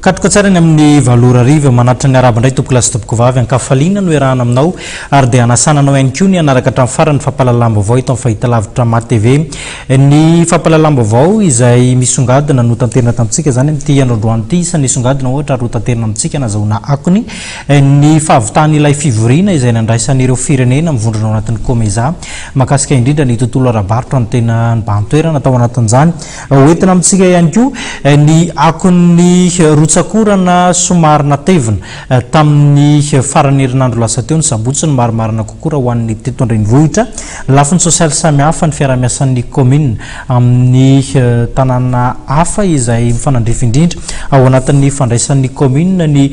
Katroka tsara ny amin'ny valo ora hariva. Manatitra ny arabo indray tompokolahy sy tompokovavy. An-kafaliana no iarahana aminao ary dia hanasana anao ihany koa ny hanaraka hatramin'ny farany ny fampahalalam-baovao eto amin'ny fahitalavitra MATV. Ny fampahalalam-baovao izay misongadina no tanterina tamintsika izany amin'ity andro androany ity. Isan'ny nisongadina ohatra ary hotanterina amintsika nazahoana akony ny fahavitan'ilay fivoriana izay nandraisan'ireo firenena mivondrona ao anatin'ny Comesa mahakasika indrindra ny tontolo ara-barotra no tena nibahan-toerana tao anatin'izany. Hoentina amintsika ihany koa ny akon'ny rotsak'orana somary natevina tamin'ny faran'ny herinandro lasa teo, ny sabotsy, ny marimarina kokoa raha ho an'ny teto an-drenivohitra. Lafiny sosialy samihafa ny fiaraha-miasan'ny kaominina amin'ny tanàna hafa izay mifanandrify indrindra. Ao anatin'ny fandraisan'ny kaominina ny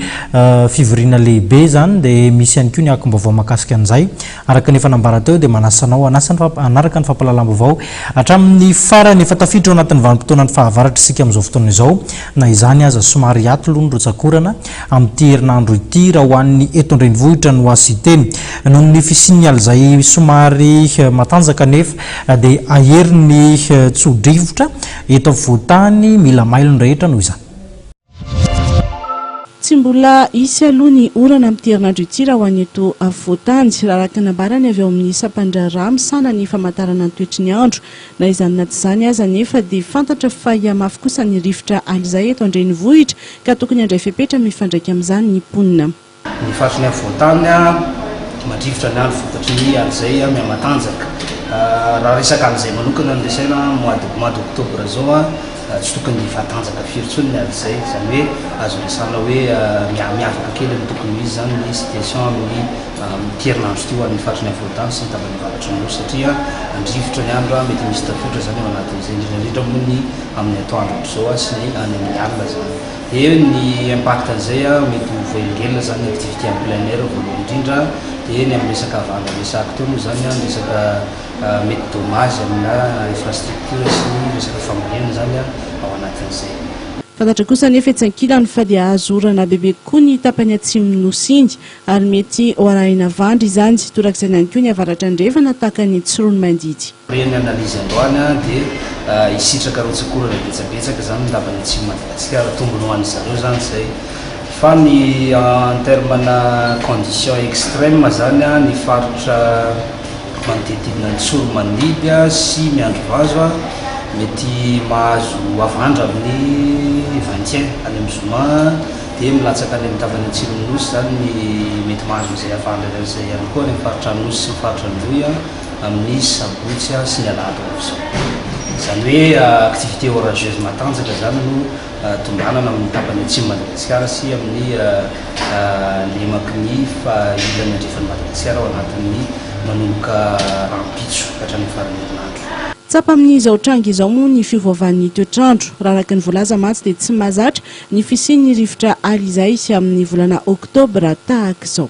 fivoriana lehibe izany dia misy ihany koa ny akom-baovao mahakasika an'izay. Araka ny efa nambara teo dia manasa anao hanasa ny hanaraka ny fampahalalam-baovao hatramin'ny farany. Efa tafiditra ao anatin'ny vanim-potoanan'ny fahavaratra isika amin'izao fotoana izao. Na izany aza, somary hiato aloha ny rotsak'orana amin'ity herinandro ity raha ho an'ny eto an-drenivohitra no hasiteny. Noho ny fisian'ny alizay somary matanjaka anefa dia hahery ny tso-drivotra eto afovoan-tany. Mila mailo ny rehetra noho izany. Tsy mbola hisy aloha ny orana amin'ity herinandro ity raha ho an'ny eto afovoan-tany, raha araka ny nambarany avy ao amin'ny sampan-draharaha misahana ny famantarana ny toetry ny andro. Na izany na tsy izany aza anefa dia fantatra fa hihamafy kosa ny rivotra alizay eto an-drenivohitra ka tokony handray fepetra mifandraika amin'izany ny mponina. Ny faritry ny avo voantany mandrivotra ny alo vokatry ny alo izay mihamatanjaka. Raha resaka alo izay manokana no resahina, mois de mois d'octobre izao tsy tokony hifatanjaka firy intsony ny alo izay, izany hoe azo resahina hoe miha miavaka kely ny tokony ho izy izany ny situation amin'ny amin'ity herinandro ity ho an'ny faritry ny afovoantany sy ny tapany avaratry ny nosy satria mandrivotra ny andro, mety misy tafiotra izany ao anatin'izay, indrindra indrindra moa ny amin'ny atoandro ohatr'izao sy ny any amin'ny alina izany. Dia ny impact an'izay an, mety ho voaengelina zany ny activité en plein air voalohany indrindra, dia ny amin'ny resaka vanga resahako teo moa zany an, ny resaka mety dommage amina infrastructure sy ny resaka fambolena zany an ao anatin'izay. Fantatra kosa anefa etsy ankilany fa dia azo orana bebe kokoa ny tapany atsimon'ny Nosy iny. Ary mety ho arahina avandra izany, torak'izany ihany koa ny avaratra andrefana tahaka ny Tsiroanomandidy. Taorian'ny analyse androany dia hisitraka rotsak'orana betsabetsaka izany ny lavan'ny Atsimon'i Madagasikara, tombony ho an'ny zareo izany izay. Fa ny en terme ana conditions extreme izany ny faritra manodidididina ny Tsoromandidy sy Miandrivazo mety mahazo avandra amin'ny vingtième any amin'ny zoma, dia milatsaka any amin'ny tapany atsimon'ny Nosy izany ny mety mahazo an'izay hafahana iray izay ihany koa any amin'ny faritra Anosy sy ny faritra Androy amin'ny sabotsy sy ny alahady ho avy izao. Izany hoe activité orageuse matanjaka izany no tombanana amin'ny tapany atsimon'i Madagasikara sy amin'ny lemaky ny faha-ilany andrefan'i Madagasikara ao anatin'ny manomboka rahampitso ka hatramin'ny faran'ny herinandro. Tsapa amin'izao tranga izao moa ny fiovaovan'ny toetr'andro. Raha araka ny voalaza mantsy dia tsy mahazatra Ny fisian'ny rivotra ary izay sy amin'ny volana oktobra tahaka izao.